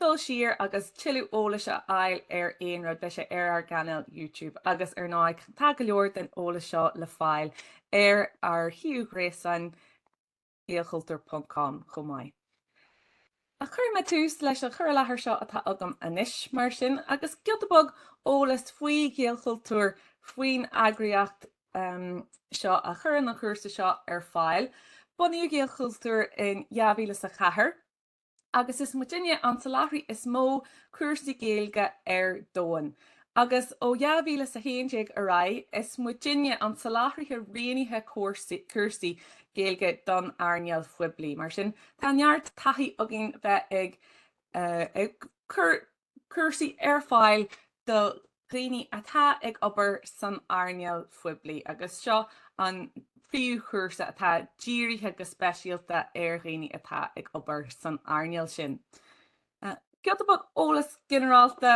dul siar agus tuilleadh eolais a fháil ar aon rud, beidh sé ar ár gcainéal YouTube agus ar ndóigh tá go leor den eolas seo le fáil ar ár suíomh gréasáin gaelchultúr ponc com chomh maith. Ach cuirfidh mé tús leis an chur i láthair seo atá agam anois, mar sin, agus giota beag eolais faoi Ghaelchultúr, faoin eagraíocht seo a chuireann an cúrsa seo ar fáil. Bunaíodh Gaelchultúr in dhá mhíle is a ceathair, agus is muidinne an soláthraí is mó cúrsaí Gaeilge ar domhan, agus ó 2011 ar aghaidh is muidinne an soláthraí roghnaithe cúrsaí Gaeilge don earnáil phoiblí, mar sin tá neart taithí againn bheith ag cur cúrsaí ar fáil do dhaoine atá ag obair san earnáil phoiblí agus seo an príomhchúrsa atá dírithe go speisialta ar dhaoine atá ag obair san earnáil sin. Giota beag eolas ginearálta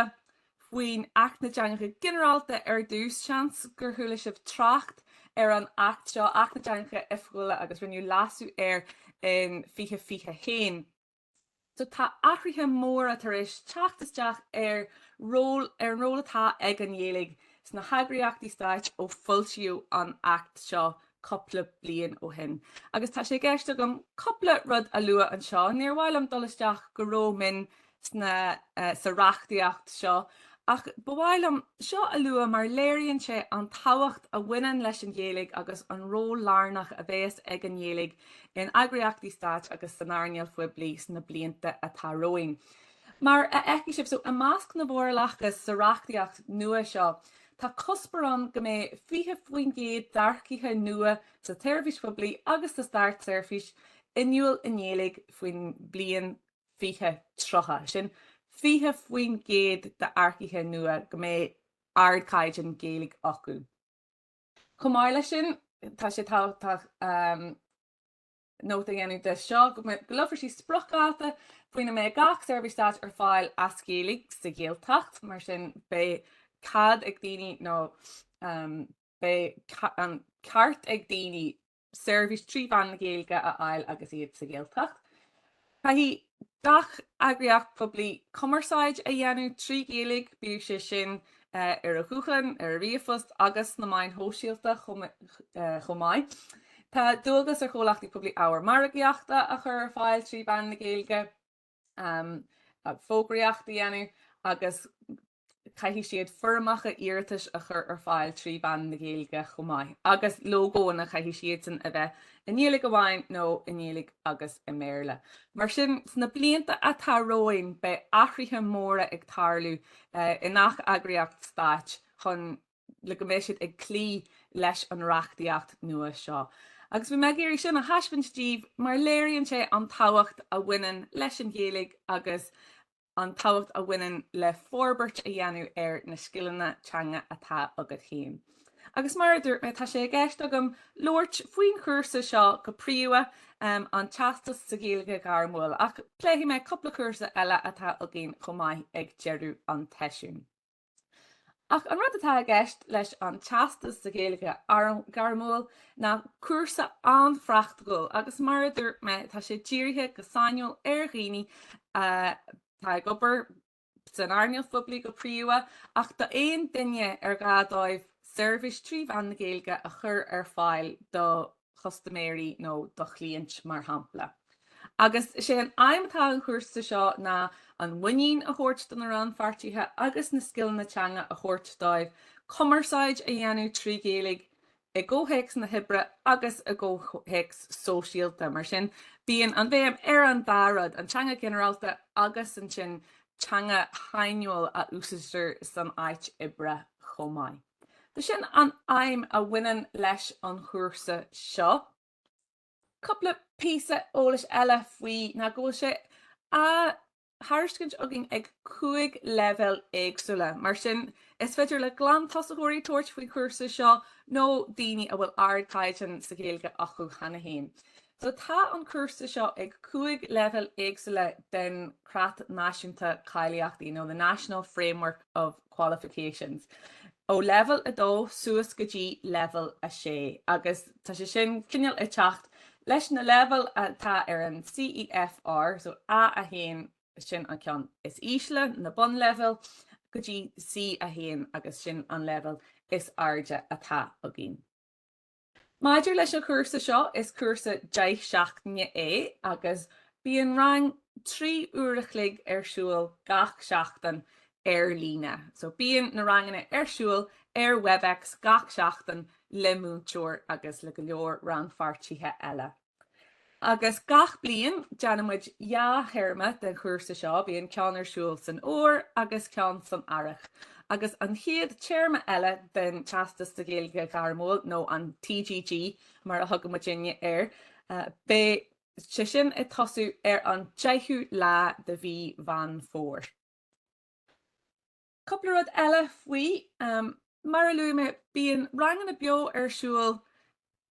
faoi Acht na dTeangacha Ginearálta ar dtús, seans gur chuala sibh trácht ar an Acht seo, Acht na dTeangacha Oifigiúla agus rinneadh leasú air in 2021. So, tá athruithe móra tar éis teacht isteach ar ról, ar an ról atá ag an nGaeilge sna heagraíochtaí stáit ó foilsíodh an Acht seo cupla bliain ó shin. Agus tá sé i gceist agam cupla rud a lua anseo. Níor mhaith liom dul isteach go ró-mhion sna, eh, sa reachtaíocht seo ach ba mhaith liom seo a lua mar léiríonn sé an tábhacht a bhaineann leis an Ghaeilge agus an ról lárnach a bheas ag an nGaeilge in eagraíochtaí stáit agus san earnáil phoiblí sna blianta atá romhainn. Mar a fheicfidh sibh, so, i measc na bhforálacha sa reachtaíocht nua seo, tá cuspóir ann go mbeidh 20% d'earcaithe nua sa tseirbhís phoiblí agus sa stát-seirbhís inniúil i nGaeilge faoin mbliain 2030. Sin 20% d'earcaithe nua go mbeidh ardchaighdeán Gaeilge acu. Chomh maith leis sin, tá sé tábhachtach nóta a dhéanamh de seo go socrófar spriocdháta faoina mbeidh gach seirbhís stáit ar fáil as Gaeilg sa Ghaeltacht, mar sin beidh cead ag daoine nó beidh an ceart ag daoine seirbhís trí mheán na Gaeilge a fháil agus iad sa Ghaeltacht. Caithfidh gach eagraíocht phoiblí cumarsáid a dhéanamh trí Ghaeilge, bíodh sé sin ar an nguthán, ar ríomhphost agus sna meáin shóisialta chomh maith. Tá dualgas ar chomhlachtaí poiblí ábhar margaíochta a chur ar fáil trí mheán na Gaeilge. fógraíocht a dhéanamh agus caithfidh siad foirmeacha iarratais a chur ar fáil trí mheán na Gaeilge chomh maith agus lógóanna, caithfidh siadsan a bheith i nGaeilge amháin nó i nGaeilge agus i mBéarla. Mar sin, sna blianta atá romhainn beidh athruithe móra ag tarlú i ngach eagraíocht stáit chun. le go mbeidh siad ag cloí leis an reachtaíocht nua seo. Agus bhí mé ag iarraidh sin a thaispeaint díbh mar léiríonn sé an tábhacht a bhaineann leis an Ghaeilge agus an tábhacht a bhaineann le forbairt a dhéanamh ar na scileanna teanga atá agat fhéin. Agus mar a dúirt mé tá sé i gceist agam labhairt faoin chúrsa seo go príomha, an Teastas sa Ghaeilge Ghairmiúil, ach pléifidh mé cúpla cúrsa eile atá againn chomh maith ag deireadh an tseisiúin. Ach an rud atá i gceist leis an Teastas sa Ghaeilge Ghairmiúil ná cúrsa an-phraiticiúil agus mar a dúirt mé tá sé dírithe go sainiúil ar dhaoine atá ag obair san earnáil phoiblí go príomha ach d'aon duine ar ghá dóibh seirbhís trí mheán na Gaeilge a chur ar fáil do chustaiméirí nó do chliaint mar shampla. Agus is é an aidhm atá an chúrsa seo ná an mhuinín a thabhairt do na rannpháirtithe agus na scileanna teanga a thabhairt dóibh cumarsáid a dhéanamh trí Ghaeilge i gcomhthéacs na hoibre agus i gcomhthéacs sóisialta. Mar sin bíonn an bhéim ar an dá rud, an teanga ghinearálta agus ansin teanga shainiúil a úsáidtear san áit oibre chomh maith. B'shin an aidhm a bhaineann leis an chúrsa seo. Cúpla píosa eolais eile faoi ná go bhfuil sé á thairiscint againn ag cúig leibhéal éagsúla. Mar sin, is féidir le glantosaitheoirí tabhairt faoin chúrsa seo nó daoine a bhfuil ardchaighdeán sa Ghaeilge acu cheana féin. Sea, tá an cúrsa seo ag cúig leibhéal éagsúla den Chreat Náisiúnta Cáilíochtaí nó the National Framework of Qualifications, ó leibhéal a dó suas go dtí leibhéal a sé, agus tá sé sin cineál ag teacht leis na leibhéil atá ar an CEFR, so A a haon, sin an ceann is ísle, na bunleibhéil, go dtí C a haon, agus sin an leibhéal is airde atá againn. Maidir leis an chúrsa seo, is cúrsa deich seachtaine é agus bíonn rang trí uair a chloig ar siúl gach seachtain ar líne. So bíonn na ranganna ar siúl ar Webex gach seachtain le múinteoir agus le go leor rannpháirtithe eile. Agus gach bliain, déanann muid dhá théarma den chúrsa seo, bíonn ceann ar siúl san Fhómhar agus ceann san Earrach. Agus an chéad téarma eile den Teastas sa Ghaeilge Ghairmiúil, nó an TGG mar a thugann muidne air, beidh sé sin ag tosú ar an 10ú lá de mhí Mheán Fómhair. Cúpla rud eile faoi. Mar a luaigh mé, bíonn ranganna beo ar siúl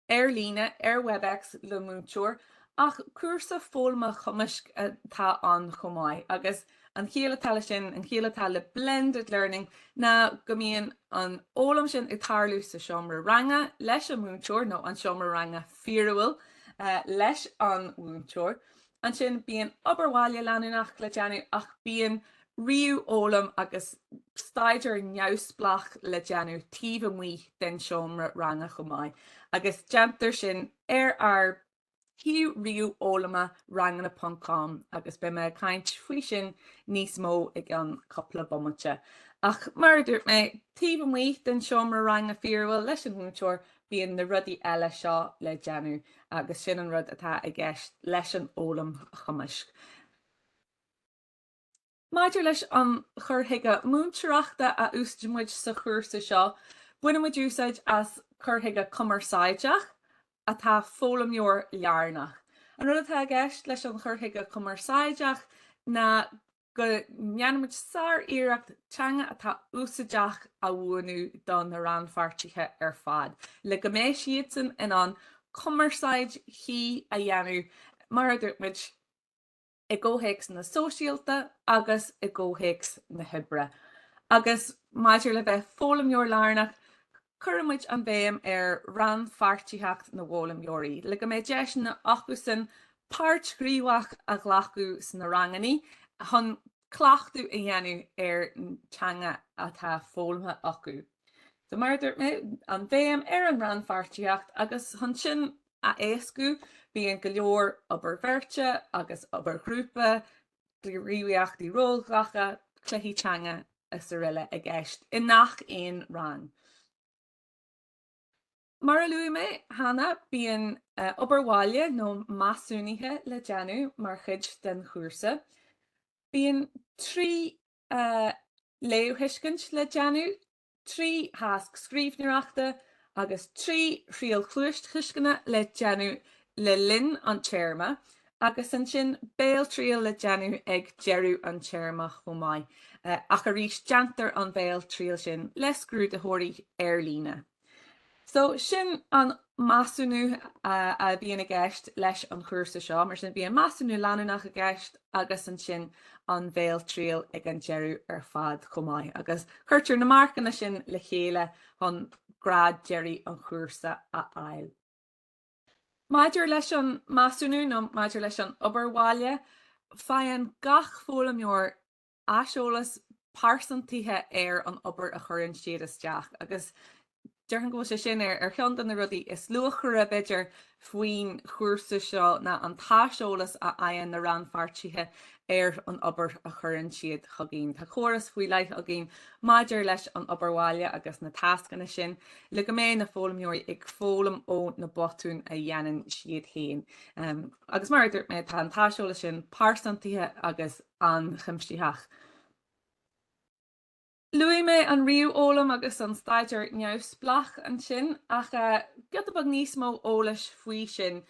ar líne ar Webex le múinteoir ach cúrsa foghlama chumaisc atá ann chomh maith agus an chiall atá leis sin, an chiall atá le blended learning ná go mbíonn an fhoghlaim sin ag tarlú sa seomra ranga leis an múinteoir nó an seomra ranga fíorúil leis an múinteoir Ansin bíonn obair bhaile leanúnach le déanamh ach bíonn ríomhfhoghlaim agus staidéar neamhspleách le déanamh taobh amuigh den seomra ranga chomh maith agus déantar sin ar ár shuíomh ríomhfhoghlama Ranganna Ponc Com agus beidh mé ag caint faoi sin níos mó i gceann cúpla bomaite. Ach mar a dúirt mé, taobh amuigh den seomra ranga fíorúil leis an mhúinteoir Bíonn na rudaí eile seo le déanamh agus sin an rud atá i gceist leis an fhoghlaim chumaisc. Maidir leis an chur chuige múinteoireachta a úsáideann muid sa chúrsa seo, baineann muid úsáid as cur chuige cumarsáideach atá foghlaimeoir lárnach. An rud atá i gceist leis an chur chuige cumarsáideach ná Go ndéanann muid sár-iarracht teanga atá úsáideach a mhúineadh do na rannpháirtithe ar fad le go mbeidh siadsan in ann cumarsáid chuí a dhéanamh, mar a dúirt muid, i gcomhthéacs sóisialta agus i gcomhthéacs na hoibre. Agus maidir le bheith foghlaimeoir-lárnach, Cuireann muid an bhéim ar rannpháirtíocht na bhfoghlaimeoirí le go mbeidh deiseanna acusan páirt ghníomhach a ghlacadh sna ranganna chun cleachtadh a dhéanamh ar an teanga atá foghlamtha acu. So mar a dúirt mé, an bhéim ar an rannpháirtíocht agus chun sin a éascú bíonn go leor obair bheirte agus obair ghrúpa gníomhaíochtaí rólghlactha, cluichí teanga is araile i gceist i ngach aon rang. Mar a luaigh mé cheana, bíonn obair bhaile nó measúnaithe le déanamh mar chuid den chúrsa. Bíonn trí léamhthuiscint le déanamh trí thasc scríbhneoireachta agus trí thriail chluastuisceana le déanamh le linn an téarma agus ansin béaltriail le déanamh ag deireadh an téarma chomh maith ach arís déantar an bhéaltriail sin le scrúdaitheoirí ar líne. So, sin an measúnú a bhíonn i gceist leis an chúrsa seo. Mar sin, bíonn measúnú leanúnach i gceist agus ansin an bhéaltriail ag an deireadh ar fad chomh maith agus cuirtear na marcanna sin le chéile chun grád deiridh an chúrsa a fháil. Maidir leis an measúnú nó maidir leis an obair bhaile, faigheann gach foghlaimeoir aiseolas pearsantaithe ar an obair a chuireann siad isteach agus déarfainn go bhfuil sé sin ar cheann de na rudaí is luachmhaire, b'fhéidir, faoin chúrsa seo ná an t-aiseolas a fhaigheann na rannpháirtithe ar an obair a chuireann siad chugainn. Tá córas faoi leith againn maidir leis an obair bhaile agus na tascanna sin le go mbeidh na foghlaimeoirí ag foghlaim ó na botúin a dhéanann siad féin agus mar a dúirt mé tá an t-aiseolas sin pearsantaithe agus an-chuimsitheach. Luaigh mé an ríomhfhoghlaim agus an staidéar neamhspleách ansin, ach giota beag níos mó eolais faoi sin,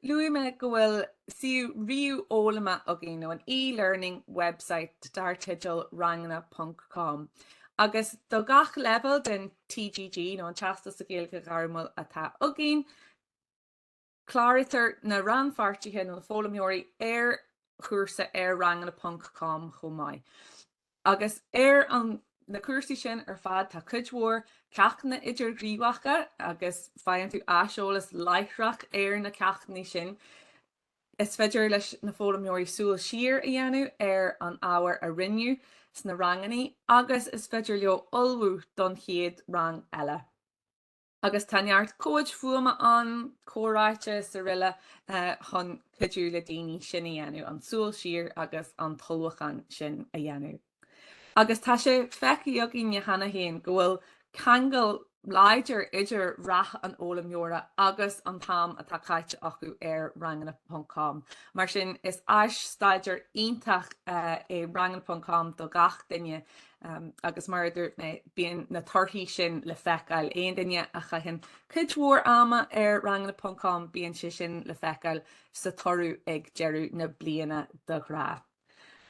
luaigh mé go bhfuil suíomh ríomhfhoghlama againn, nó an e-learning website dar teideal Ranganna ponc com, agus do gach leibhéal den TGG, nó an Teastas sa Ghaeilge Ghairmiúil, atá againn. Cláraítear na rannpháirtithe nó na foghlaimeoirí ar chúrsa ar ranganna ponc com chomh maith. Agus ar na cúrsaí sin ar fad tá cuid mhór ceachtanna idirghníomhacha agus faigheann tú aiseolas láithreach ar na ceachtanna sin. Is féidir leis na foghlaimeoirí súil siar a dhéanamh ar an ábhar a rinneadh sna ranganna agus is féidir leo ullmhú don chéad rang eile. agus tá neart comhaid fuaime ann, comhráite is aroile chun cuidiú le daoine sin a dhéanamh, an tsúil siar agus an t-ullmhúchán sin a dhéanamh. Agus tá sé feicthe againne cheana féin go bhfuil ceangal láidir idir rath an fhoghlaimeora agus an t-am atá caite acu ar Ranganna ponc Com. Mar sin, is áis staidéir iontach é Ranganna ponc Com do gach duine. Agus mar a dúirt mé, bíonn na torthaí sin le feiceáil. Aon duine a chaitheann cuid mhór ama ar ranganna ponc com bíonn sé sin le feiceáil sa toradh ag deireadh na bliana de ghnáth.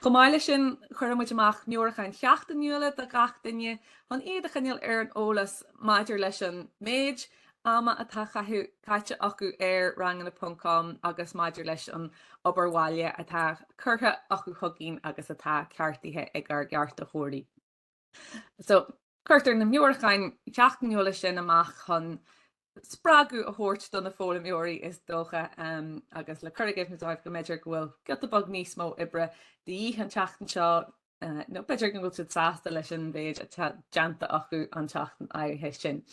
Chomh maith leis sin, cuireann muid amach meabhrúcháin sheachtainiúla do gach duine chun iad a choinneáil ar an eolas maidir leis an méid ama atá caite acu ar ranganna ponc com agus maidir leis an obair bhaile atá curtha acu chugainn agus atá ceartaithe ag ár gceartaitheoirí. So, cuirtear na meabhrúcháin sheachtainiúla sin amach chun spreagadh a thabhairt do na foghlaimeoirí is dócha agus le cur i gcuimhne dóibh go mb'fhéidir go bhfuil giota beag níos mó oibre de dhíth an tseachtain seo nó b'fhéidir go bhfuil siad sásta leis an mhéid atá déanta acu an tseachtain áirithe sin.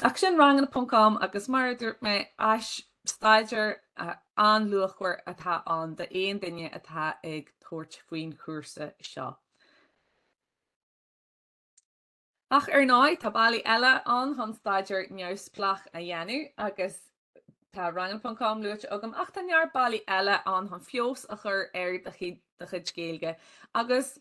Ach sin Ranganna.com agus mar a dúirt mé, áis staidéir an-luachmhar atá ann d'aon duine atá ag tabhairt faoin chúrsa seo. Ach ar ndóigh tá bealaí eile ann chun staidéar neamhspleách a dhéanamh agus tá Ranganna.com luaite agam ach tá neart bealaí eile ann chun feabhas a chur ar do chuid Gaeilge agus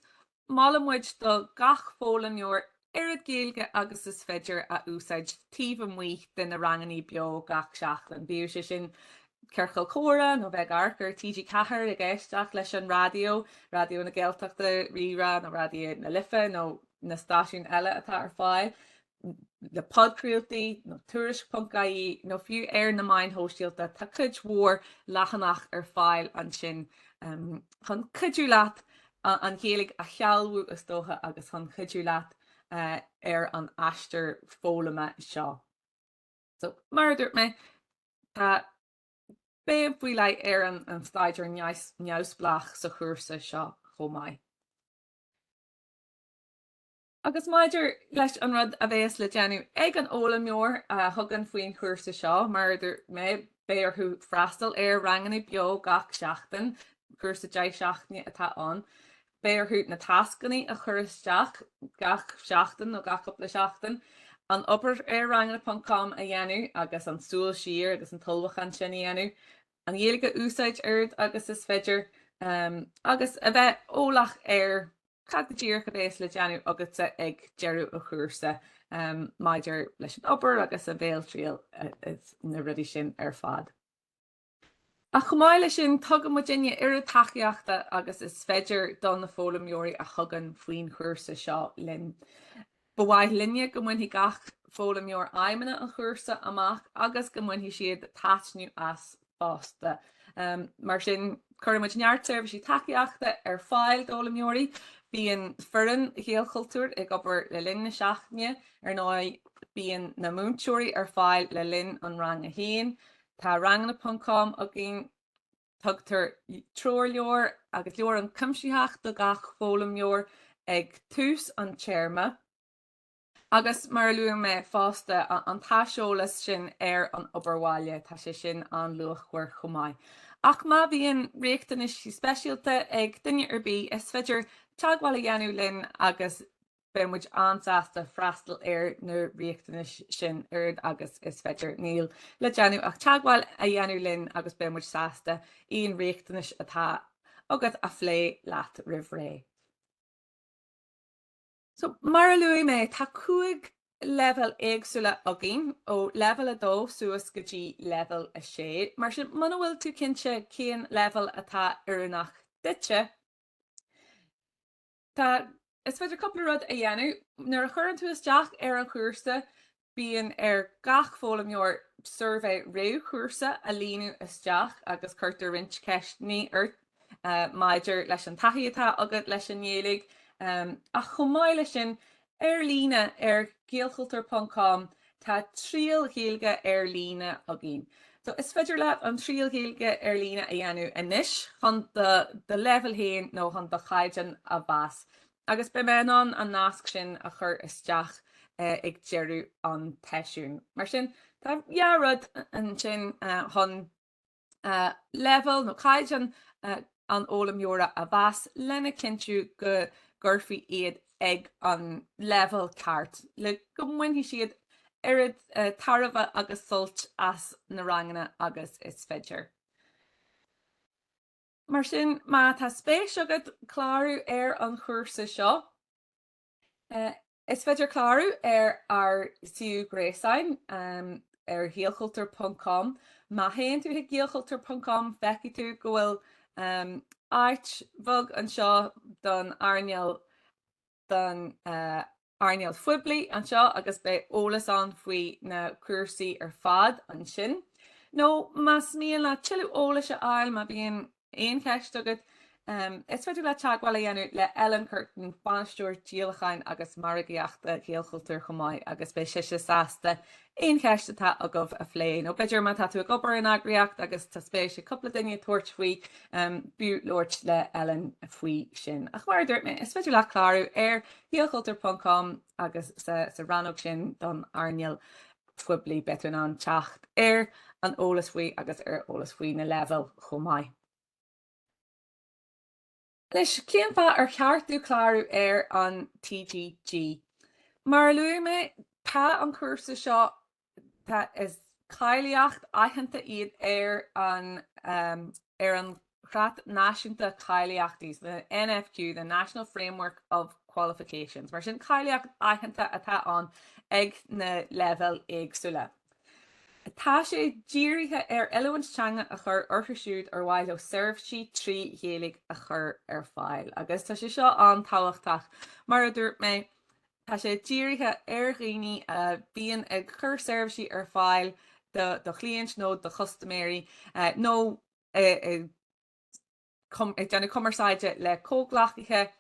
molann muid do gach foghlaimeoir oiread Gaeilge agus is féidir a úsáid taobh amuigh de na ranganna beo gach seachtain, bíodh sé sin ciorcal comhrá nó bheith ag amharc ar TG Ceathair ag éisteacht leis an raidió, Raidió na Gaeltachta, RíRá nó Raidió na Life nó. na stáisiúin eile atá ar fáil, le podchraoltaí, nó Tuairisc.ie, nó fiú ar na meáin shóisialta, tá cuid mhór leathanach ar fáil ansin chun cuidiú leat an Ghaeilge a shealbhú, is dócha, agus chun cuidiú leat ar an aistear foghlama seo. So, mar a dúirt mé, tá béim faoi leith ar an an staidéar neamhspleách sa chúrsa seo chomh maith. Agus maidir leis an rud a bhéas le déanamh ag an fhoghlaimeoir a thugann faoin chúrsa seo, mar a dúirt mé, beidh orthu freastal ar ranganna beo gach seachtain, cúrsa deich seachtaine atá ann, beidh orthu na tascanna a chur isteach gach seachtain nó gach cúpla seachtain, an obair ar Ranganna.com a dhéanamh agus an tsúil siar agus an t-ullmhúchán sin a dhéanamh. an Ghaeilge a úsáid oiread agus is féidir agus a bheith eolach ar cad go díreach a bhéas le déanamh agatsa ag deireadh an chúrsa maidir leis an obair agus an bhéaltriail is na rudaí sin ar fad. Ach chomh maith leis sin tugann muidinne oiread tacaíochta agus is féidir do na foghlaimeoirí a thugann faoin chúrsa seo linn. Ba mhaith linne go mbainfidh gach foghlaimeoir aidhmeanna an chúrsa amach agus go mbainfidh siad taitneamh as fosta. Mar sin, cuireann muid neart seirbhísí tacaíochta ar fáil d'fhoghlaimeoirí. Bíonn foireann Ghaelchultúir ag obair le linn na seachtaine. Ar ndóigh, bíonn na múinteoirí ar fáil le linn an ranga féin. Tá Ranganna.com againn. Tugtar treoirleabhar agus leabhar an-chuimsitheach do gach foghlaimeoir ag tús an téarma agus mar a luaigh mé fosta an t-aiseolas sin ar an obair bhaile, tá sé sin an-luachmhar chomh maith. Ach má bhíonn riachtanais speisialta ag duine ar bith, is féidir teagmháil a dhéanamh linn agus Beidh muid an-sásta freastal ar na riachtanais sin oiread agus is féidir. Níl le déanamh ach teagmháil a dhéanamh linn agus beidh muid sásta aon riachtanais atá agat a phlé leat roimh ré. So, mar a luaigh mé, tá cúig leibhéal éagsúla againn, ó leibhéal a dó suas go dtí leibhéal a sé. Mar sin, muna bhfuil tú cinnte cén leibhéal atá oiriúnach duitse, Tá, is féidir cúpla rud a dhéanamh. Nuair a chuireann tú isteach ar an chúrsa, bíonn ar gach foghlaimeoir suirbhé réamhchúrsa a líonadh isteach agus cuirtear roinnt ceisteannaí ort maidir leis an taithí atá agat leis an nGaeilge ach chomh maith leis sin, Ar líne ar Gaelchultúr ponc com tá triail Ghaeilge ar líne againn. So is féidir leat an triail Ghaeilge ar líne a dhéanamh anois chun do do leibhéal féin nó chun do chaighdeán a mheas agus beidh mé in ann an nasc sin a chur isteach ag deireadh an tseisiúin. Mar sin tá dhá rud ansin chun. leibhéal nó caighdeán an fhoghlaimeora a mheas lena chinntiú go gcuirfí iad ag an leibhéal ceart le go mbainfidh siad oiread tairbhe agus suilt as na ranganna agus is féidir. Mar sin, má tá spéis agat clárú ar an chúrsa seo, Is féidir clárú ar ár suíomh gréasáin ar ghaelchultúr ponc com. Má théann tú chuig gaelchultúr ponc com feicfidh tú go bhfuil áit bheag anseo don earnáil don earnáil phoiblí anseo agus beidh eolas ann faoi na cúrsaí ar fad ansin. Nó más mian leat tuilleadh eolais a fháil má bhíonn aon cheist agat, is féidir leat teagmháil a dhéanamh le Ellen Curtin, Bainisteoir Díolacháin agus Margaíochta Ghaelchultúir chomh maith agus beidh sise sásta aon cheist atá agaibh a phlé. Nó b'fhéidir má tá tú ag obair in eagraíocht agus tá spéis ag cúpla duine tabhairt faoi, b'fhiú labhairt le Ellen faoi sin. Ach mar a dúirt mé, is féidir leat clárú ar ghaelchultúr ponc com agus sa rannóg sin don earnáil. phoiblí, beidh tú in ann teacht ar an eolas faoi agus ar eolas faoi na leibhéil chomh maith leis. cén fáth ar cheart duit clárú ar an TGG? Mar a luaigh mé, tá an cúrsa seo, tá, is cáilíocht aitheanta iad ar an, ar an Chreat Náisiúnta Cáilíochtaí, the NFQ, the National Framework of Qualifications. Mar sin, cáilíocht aitheanta atá ann ag na leibhéil éagsúla. Tá sé dírithe ar oiliúint teanga a chur orthu siúd ar mhaith leo seirbhísí trí Ghaeilge a chur ar fáil. Agus tá sé seo an-tábhachtach, mar a dúirt mé, tá sé dírithe ar dhaoine a bhíonn ag cur seirbhísí ar fáil do chliaint nó do chustaiméirí nó, ag déanamh cumarsáide le comhghleacaithe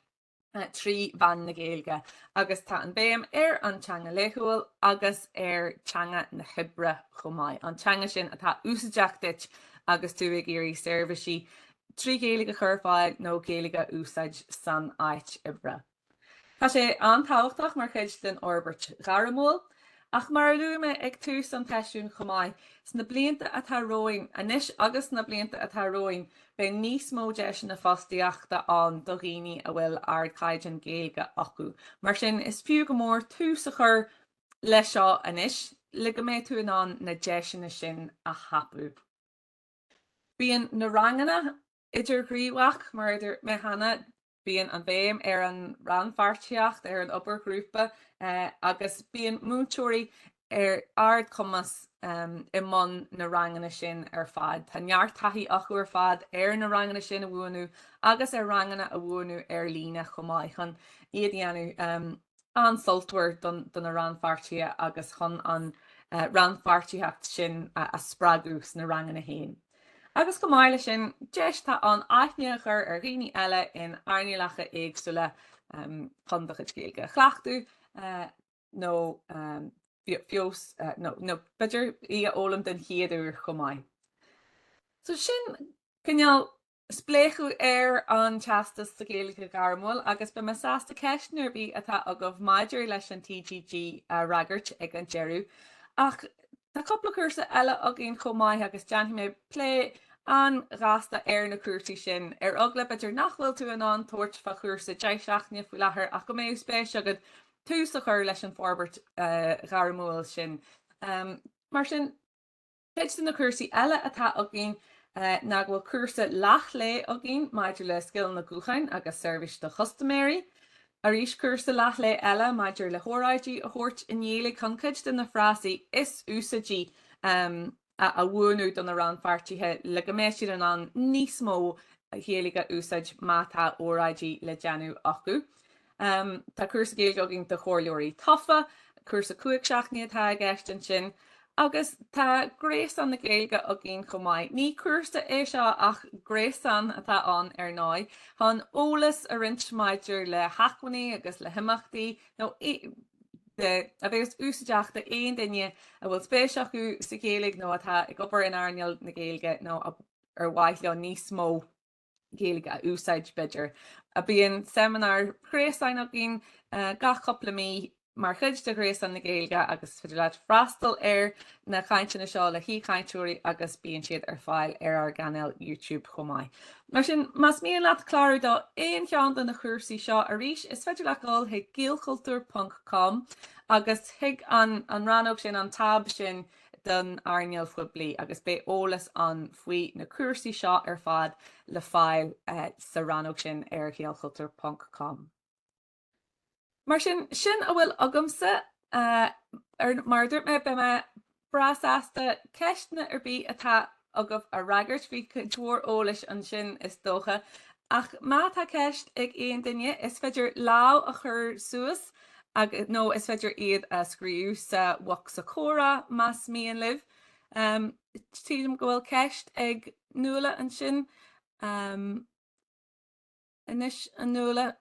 trí mheán na Gaeilge agus tá an béim ar an teanga laethúil agus ar teanga na hoibre chomh maith, an teanga sin atá úsaideach duit agus tú ag iarraidh seirbhísí trí Ghaeilge a chur ar fáil nó Gaeilge a úsáid san áit oibre. Tá sé an-tábhachtach mar chuid den fhorbairt ghairmiúil, ach mar a luaigh mé ag tús an tseisiúin chomh maith, sna blianta atá romhainn, anois agus sna blianta atá romhainn, beidh níos mó deiseanna fostaíochta ann do dhaoine a bhfuil ardchaighdeán Gaeilge acu. Mar sin, is fiú go mór tús a chur leis seo anois, le go mbeidh tú in ann na deiseanna sin a thapú. Bíonn na ranganna idirghníomhach, mar a dúirt mé cheana, Bíonn an bhéim ar an rannpháirtíocht, ar an obair ghrúpa agus bíonn múinteoirí ar ardchumas i mbun na ranganna sin ar fad. Tá neart taithí acu ar fad ar na ranganna sin a mhúineadh agus ar ranganna a mhúineadh ar líne chomh maith chun iad a dhéanamh. an-sultmhar do na rannpháirtithe agus chun an rannpháirtitheacht sin a spreagadh sna ranganna féin. Agus chomh maith leis sin, deis atá ann aithne a chur ar dhaoine eile in earnálacha éagsúla chun do chuid Gaeilge a chleachtadh nó feabhas nó b'fhéidir í a fhoghlaim den chéad uair chomh maith. So sin cineál Spléachadh ar an Teastas sa Ghaeilge Ghairmiúil agus beidh mé sásta ceisteanna ar bith atá agaibh maidir leis an TGG a fhreagairt ag an deireadh. Ach tá cúpla cúrsa eile againn chomh maith agus déanfaidh mé plé an-ghasta ar na cúrsaí sin. Ar eagla, b'fhéidir, nach bhfuil tú in ann tabhairt fá chúrsa deich seachtaine faoi láthair ach go mbeadh spéis agat tús a chur leis an fhorbairt ghairmiúil sin, mar sin, Cuid de na cúrsaí eile atá againn ná go bhfuil cúrsa leath-lae againn maidir le scileanna gutháin agus seirbhís do chustaiméirí. Arís cúrsa leath-lae eile maidir le hóráidí a thabhairt i nGaeilge chun cuid de na frásaí is úsáidí a mhúineadh do na rannpháirtithe le go mbeidh siad in ann níos mó Gaeilge a úsáid má tá óráidí le déanamh acu. Tá cúrsa Gaeilge againn do Chomhairleoirí Tofa, cúrsa cúig seachtaine atá i gceist ansin. Agus tá Gréasán na Gaeilge againn chomh maith. Ní cúrsa é seo ach gréasán atá ann ar ndóigh, chun eolas a roinnt maidir le hacmhainní agus le himeachtaí, nó a bhéas úsáideach do aon duine a bhfuil spéis acu sa Ghaeilge nó atá ag obair in earnáil na Gaeilge nó ar mhaith leo níos mó Gaeilge a úsáid, b'fhéidir. Bíonn seimineár ghréasáin againn gach cupla mí mar chuid de Ghréasán na Gaeilge agus is féidir leat freastal ar na cainteanna seo le haoichainteoirí agus bíonn siad ar fáil ar ár gcainéal YouTube chomh maith. Mar sin, más mian leat clárú do aon cheann de na cúrsaí seo, arís, is féidir leat dul chuig gaelchultúr ponc com agus chuig an rannóg sin, an táb sin, don earnáil phoiblí agus beidh eolas ann faoi na cúrsaí seo ar fad le fáil sa rannóg sin ar ghaelchultúr ponc com. Mar sin, sin a bhfuil agamsa. Mar a dúirt mé, beidh mé breá sásta ceisteanna ar bith atá agaibh a fhreagairt. Bhí cuid mhór eolais ansin, is dócha, ach má tá ceist ag aon duine, is féidir lámh a chur suas agus, nó is féidir iad a scríobh sa bhocsa comhrá más mian libh. Sílim go bhfuil ceist ag Nuala ansin. Anois, a Nuala,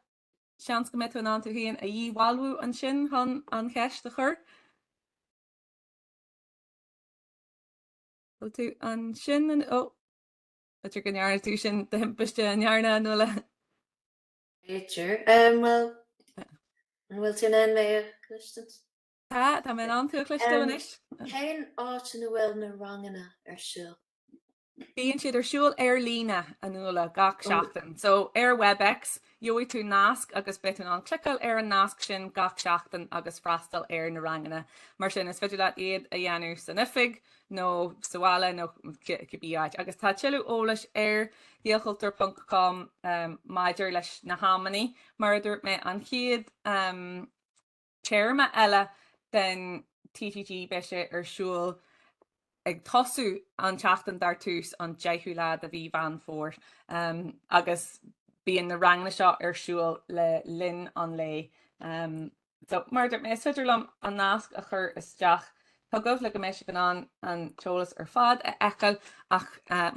seans go mbeidh tú in ann tú féin a dhíbhalbhú ansin chun an cheist a chur. Bhfuil tú ansin anois? Ó! B'fhéidir go ndearna tú sin de thimpiste, an ndearna, a Nuala? B'fhéidir. Bhuel, an bhfuil tú in ann mé a chloisteaint? Tá, tá mé in ann tú a chloisteáil anois. Cén áit ina bhfuil na ranganna ar siúl? Bíonn siad ar siúl ar líne, a Nuala, gach seachtain. So, ar Webex, gheobhaidh tú nasc agus beidh tú in ann cliceáil ar an nasc sin gach seachtain agus freastal ar na ranganna. Mar sin, is féidir leat iad a dhéanamh san oifig, nó sa bhaile nó cibé áit, agus tá tuilleadh eolais ar ghaelchultúr ponc com maidir leis na hamannaí. Mar a dúirt mé, an chéad téarma eile den TTG beidh sé ar siúl ag tosú an tseachtain dar tús an 10ú lá de mhí Mheán Fómhair agus bíonn na ranganna seo ar siúl le linn an lae. So, mar a dúirt mé, is féidir liom an nasc a chur isteach. sa dóigh go mbeidh sibh in ann an t-eolas ar fad a fheiceáil ach,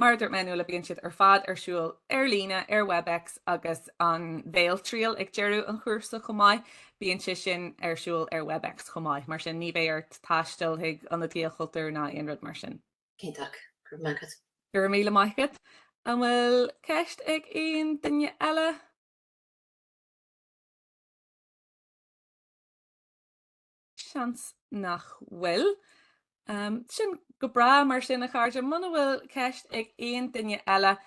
mar a dúirt mé, níos luaithe bíonn siad ar fad ar siúl ar líne ar WebEx agus an bhéaltriail ag deireadh an chúrsa chomh maith, bíonn sé sin ar siúl ar WebEx chomh maith. Mar sin, ní bheidh ort taisteal chuig ionad Ghaelchultúir ná aon rud mar sin. Cinnteac. Go raibh maith agat. Go raibh míle maith agat. An bhfuil ceist ag aon duine eile? Seans nach bhfuil. Sin go breá mar sin a chairde. Muna bhfuil ceist ag aon duine eile,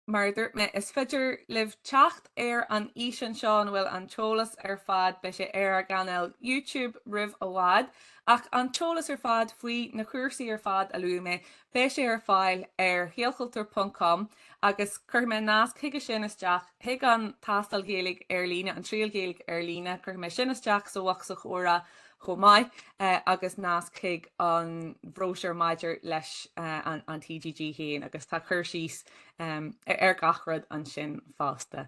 mar a dúirt mé, is féidir libh teacht ar an fhíseán seo ina bhfuil an t-eolas ar fad, beidh sé ar ár gcainéal YouTube roimh i bhfad, ach an t-eolas ar fad faoi na cúrsaí ar fad a luaigh mé, beidh sé ar fáil ar ghaelchultúr.com. Agus cuirfidh mé nasc chuige sin isteach, chuig an Tástáil Ghaeilge Ar Líne, an Triail Ghaeilge Ar Líne, cuirfidh mé sin isteach sa bhocsa comhrá chomh maith agus nasc chuig an bhróisiúr maidir leis an TGG féin agus tá cur síos ar gach rud ansin fosta.